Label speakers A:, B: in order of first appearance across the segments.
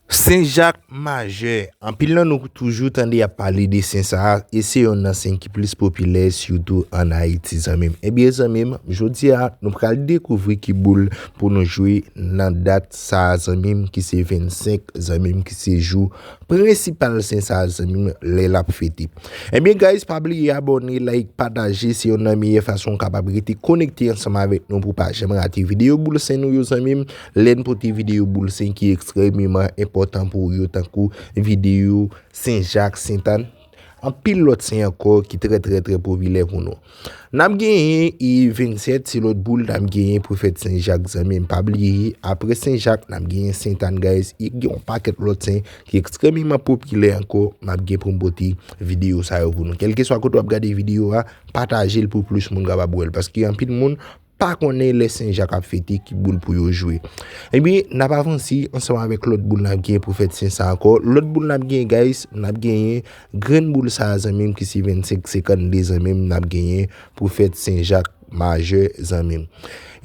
A: Sen Jak Majè, Anpil nan nou toujou tande y ap pale de sen sa a, e se yonn nan sen ki plis popilè sitou ann Ayiti zanmi m. Ebyen zanmi m, jodi a nou pral dekouvri ki boul pou nou jwe nan dat sa a zanmi m ki se 25 zanmi m ki se jou prensipal sen sa a zanmi m lè l ap fete. Ebyen guys pa bliye abòne, like, pataje se yonn nan meyè fason ou kapab rete konekte ansanm avèk nou pou w pa janm rate videyo boul sen nou yo zanmi m. Lè n pote videyo boul sen ki ekstrèmeman enpòtan pou ou yo tankou videyo Sen Jak, Sent Ann, anpil lòt sen ankò ki trè trè trè popilè pou nou. N ap genyen 27 ti lòt boul n ap genyen pou fèt Sen Jak zanmi m. Pa bliye apre Sen Jak n ap genyen Sent Ann guys e gen yon pakèt lòt sen ki ekstrèmeman popilè ankò m ap gen pou m pote videyo sa yo pou nou. Kèlkeswa kote w ap gade videyo a, pataje l pou plis moun kapab wè l paske anpil moun pa konnen lè Sen Jak ap fete ki boul pou yo jwe. Ebyen, n ap avanse ansanm avèk lòt boul n ap genyen pou fèt Sen sa ankò. Lòt boul n ap genyen guys, n ap genyen grenn boul sa a zanmi m ki se 25 52 zanmi m n ap genyen pou fèt Sen Jak Majè zanmi m.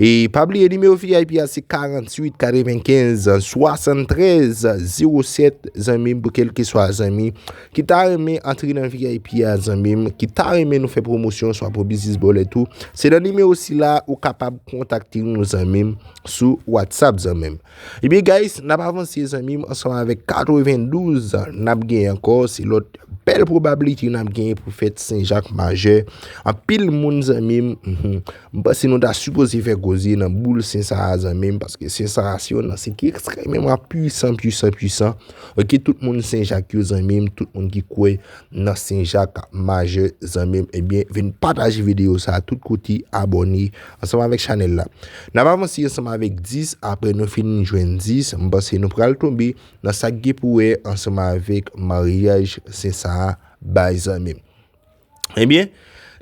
A: E pa bliye nimewo vip a se 48 95 73 07 zanmi m pou kèlkeswa zanmi Ki ta renmen antre nan vip a zanmi m ki ta renmen nou fè pwomosyon swa pou biznis bòlèt ou se nan nimewo sila ou kapab kontakte nou zanmi m sou whatsapp zanmi m ebyen guys n ap avanse zanmi m ansanm avèk 92 n ap gen ankò se lòt bèl pwobablite n ap gen pou fèt senjak majè anpil moun zanmi m M panse nou ta sipoze fè koze nan boul sen sa a zanmim paske sen sa a se yon nan sen ki ekstrememan pwisan pwisan pwisan ok tout moun sen jak yo zanmim tout moun ki kwe nan sen jak majè zanmim ebyen vin pataje video sa a tout kote abone ansanm avek chanel la nap avanse ansanm avek 10 apre nou fin jwenn 10 m panse nou pral tonbe nan sak gen pou wè ansanm avek maryaj sen sa a bay zanmim. Ebyen,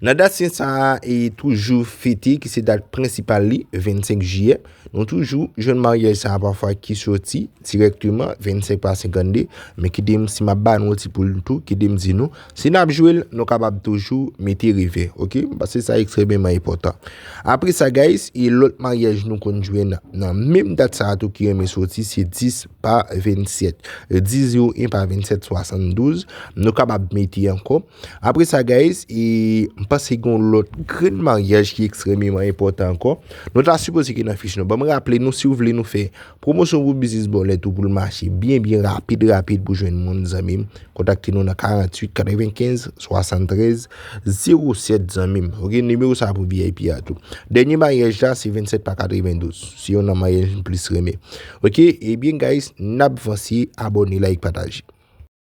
A: nan dat sen sa a e toujou fete ki se dat prensipal li, 25 jiyè, nou toujou jwenn maryaj sa a pafwa ki soti direkteman 25 pa 52, men kite m si m ap ba nou ti poul tou, kite m di nou, si n ap jwe l, nou kapab toujou mete revè, ok, paske sa ekstrememan enpòtan. Apre sa guys, e lòt maryaj nou konn jwenn nan menm dat sa a tou ki renmen soti se 10. pa 27 10 0 1 pa 27 72 nou kapab mete ankò apre sa guys e m panse gon lòt grenn maryaj ki ekstrememan enpòtan ankò nou ta sipoze ki nan fich nou ban m raple nou si w vle nou fè promosyon pou biznis bòlèt ou pou l mache byen byen rapid rapid pou jwenn moun zanmi m kontakte nou nan 48 95 73 07 zanmi m ok nimewo sa pou vip a tou dènye maryaj la se 27 pa 92 se yon nan maryaj m plis renmen Ok ebyen guys nap vanse abone like pataje.